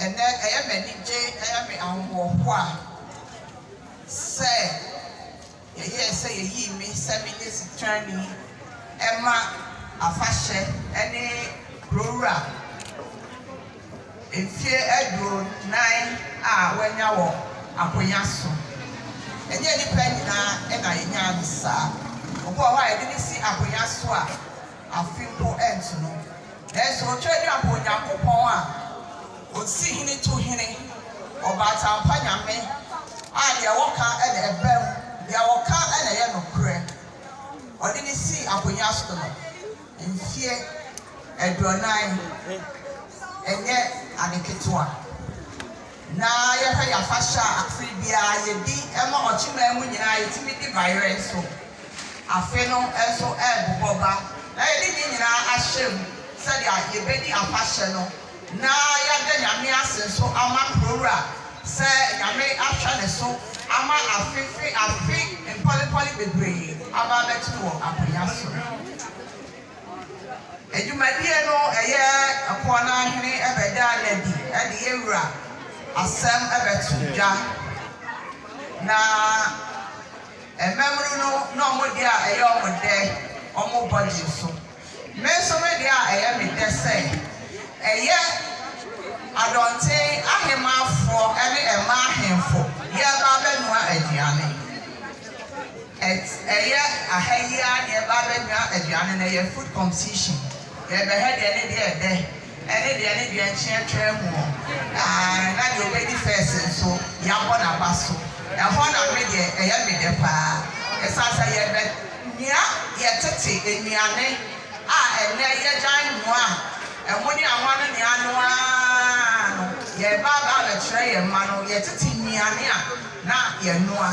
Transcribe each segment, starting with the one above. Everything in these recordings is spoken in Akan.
Ɛnnɛ, ɛyɛ me anigye, ɛyɛ me ahohoahoa sɛ yɛyɛɛ sɛ yeyii me sɛ menyɛ sitrani ma afahyɛ ne Kurowura mfe aduonan a wanya wɔ akonya so. Ɛnyɛ nnipa nyinaa na yenyaa no saa. Obi wɔ hɔ a, yɛde no si akonya so a, afe mpo antu no, nanso otwa dwa bɔ Onyankopɔn a ɔsi hene tu hene, ɔbaataampa Nyame a deɛ ɔka na ɛba mu, deɛ ɔka na ɛyɛ nokorɛ. Ɔde no sii akonnwa so no, mfeɛ aduɔnan nyɛ ade ketewa. na yɛhwɛ yɛn afahyɛ a afe biara yɛdi ma ɔkyemaa mu nyinaa a yɛtumi de bayerɛ nso afe no nso rebobɔ ba na yɛde ne nyinaa ahyɛ mu sɛdeɛ yɛbɛdi afahyɛ no na yɛada Nyame ase nso ama Kurowura sɛ Nyame ahwɛ ne so ama afe firi afe mpɔlempɔle bebree aba abɛto no wɔ akonnwa so. Adwumadie no ɛyɛ ɛpoɔ no ara hene ɛbɛdaa no adi ɛde yɛn wura asɛm ɛbɛto dwa. Na mmamunu no na wɔn deɛ a ɛyɛ wɔn dɛ wɔn body so. Me nso me deɛ a ɛyɛ me dɛ sɛ ɛyɛ Adɔnten ahemaafoɔ ɛne ɛmaa ahemfo yɛreba abɛnoa aduane. At ɛyɛ aha yi ara na yɛba abɛnoa aduane no, ɛyɛ food compsition, yɛbɛhwɛ deɛ ne deɛ ɛdɛ ɛne deɛ ne deɛ nkyeɛ twaa mu o, aah na deɛ ɔbɛdi first nso yɛabɔ n'aba so, ɛhɔ na me deɛ ɛyɛ me dɛ paa, ɛsiane sɛ yɛbɛ noa yɛ tete nnuane a ɛnnɛ yɛgyae noa a ɛmo ne anwa no ne ano ara no, yɛba aba abɛkyerɛ yɛn mma no yɛ tete nnuane a na yɛnoa.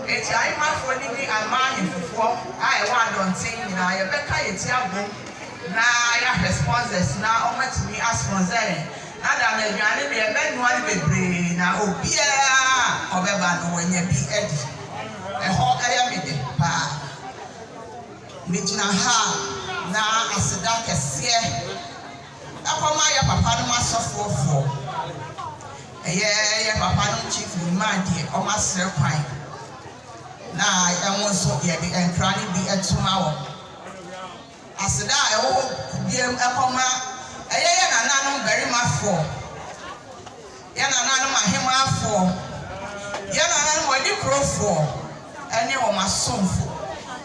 Enti Ahemanfoɔ no ne Aman Ahefofoɔ a ɛwɔ adɔnten nyinaa yɛbɛka yɛn ti abom na yɛahwɛ sponsors na wɔatumi asponsor yɛn na dame aduane no yɛbɛnoa no bebree na obiara a ɔbɛba no wanya bi adi. Ɛhɔ yɛ me dɛ paa. Megyina ha na aseda kɛseɛ. Ɛkɔm ayɛ papa nom asɔfoɔ foɔ ɛyɛ yɛ papa nom chief nyumaa deɛ wɔn asrɛ kwan na yɛ wɔn nso yɛ de nkra no bi to ma wɔn aseda a ɛwɔ hɔ biam ɛkɔm a ɛyɛ yɛ nana nom barima foɔ. Yɛn nananom ahemmafoɔ, yɛn nananom anikurofoɔ ne wɔn asomfo,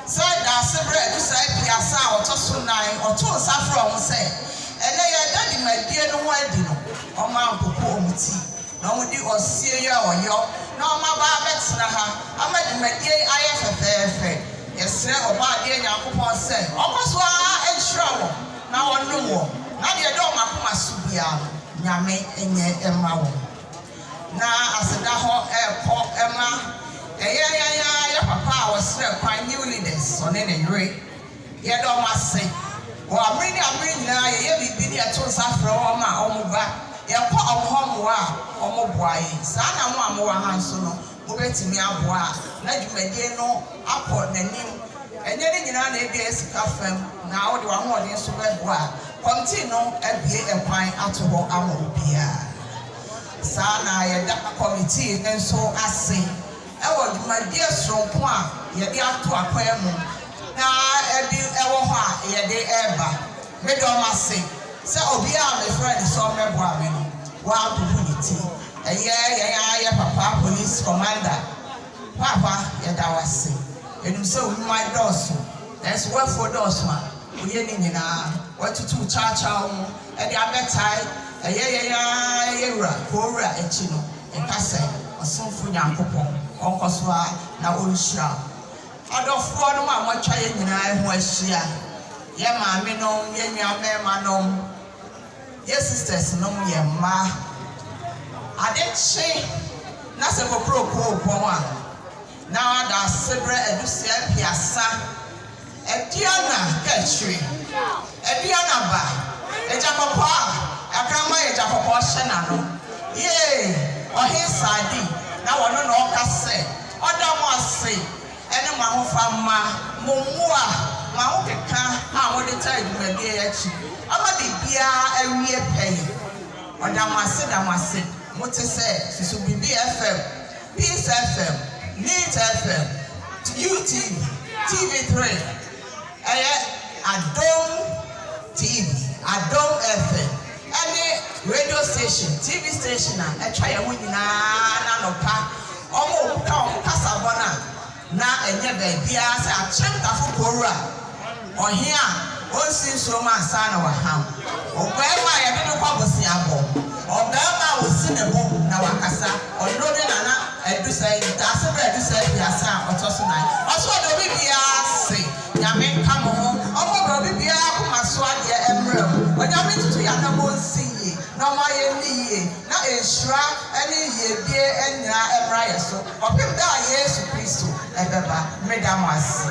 sɛ Daasebrɛ du saa aduasa a ɔtɔ so nnan, ɔtoo nsa frɛɛ wɔn sɛ, Ɛnnɛ yɛreda dwumadie no ho adi no, wɔampopo wɔn ti, na wɔdi ɔseɛ yi a wɔyɔ na wɔaba abɛtena ha ama dwumadie yi ayɛ fɛfɛɛfɛ. Yɛsrɛ Ɔbɔadeɛ Nyankopɔn sɛ ɔnkɔ so ara nhyira wɔn. Na wɔnom wɔn, na deɛ ɛda wɔn akoma so biara no, Nyame nyɛ mma wɔn. Na aseda hɔ rekɔ ma ɛyɛ yɛn ara yɛ papa a wɔsrɛ kwan, New Leaders, ɔne ne yere. Yɛda wɔn ase. Wɔ abere ne abere nyinaa yɛyɛ biribi ne yɛto nsa frɛ wɔn a wɔba, yɛkɔ wɔn hɔ mmoa a, wɔboa yɛn. Saa na mo a mowɔ ha nso no, Wobɛtumi aboa na dwumadie no akɔ n'anim. Ɛnyɛ ne nyinaa na ebia ɛyɛ sika fam na wode w'ahoɔden nso bɛboa. Kɔmtii no abue ɛkwan ato hɔ ama obiara. Saa ara na yɛda kɔmitii no nso ase wɔ dwumadie soronko a yɛde ato akwan mu na ɛbi wɔ hɔ a yɛde reba. Meda wɔn ase sɛ obiara a mefrɛɛ no sɛ ɔmmɛboa me no, wabubu ne ti. Ɛyɛ yɛn ara yɛn papa Police Commander, Paapa, yɛda wo ase. Yɛnim sɛ wo nnwuma dɔɔso, nanso w'afuo dɔɔso a, woyɛ ne nyinaa. Woatutu wo kyawkyaw mu de abɛtae ɛyɛ yɛn ara yɛn wura, Kowura akyi no. Yɛka sɛ, Ɔsomfo Nyankopɔn ɔnkɔ so ara na ɔnhyira wo. Adɔfoɔnom a moatwa yɛn nyinaa ho ahyia, Yɛ maamenom, yɛ nuamɛɛmanom, yɛ sistɛsnom, yɛ mma, ade kye na sɛ kokroko rebɔn a, na daasebrɛ adusua aduasa, aduana kaakyire, aduana ba, agyakɔkɔɔ a akraman a agyakɔkɔɔ hyɛ n'ano, yee, ɔhen Saadi, na ɔno na ɔka sɛ, ɔda mo ase, ne mo ahofamma, mo mmoa, mo ahokeka a mode taa adwumadeɛ yi akyi ama biribiara awie pɛyɛ. Ɔda mo ase da mo ase. Mote sɛ Susubibi FM, Peace FM, Neet FM, UTV, TV3, ɛyɛ Adom TV, Adom FM. ne radio station, TV station a ɛtwa yɛn ho nyinaa no anɔpa, wɔkuta wɔn kasabɔ no a, na ɛnyɛ baabiara sɛ Akyem-Tafo Kowura, ɔhene a ɔnsi nsuo mu ansa na waham, ɔbarima a yɛde no kɔ aboseabɔ, ɔbarima a wɔsi ne bo na wakasa, ɔno ne Nana Adusai, Ntaaseberɛ Adusai Aduasa a ɔtɔ so nan. Ɔso ɔdɔ obi biara se. Onyame nka mo ho. Ɔmma broni biara akoma so adeɛ mmra mu. Onyame ntutu yɛn anamɔn nsi yie na ɔmma yɛn nni yie na nhyira ne yiedie nyina mmra yɛn so kɔpem da a Yesu Kristo bɛba. Meda mo ase.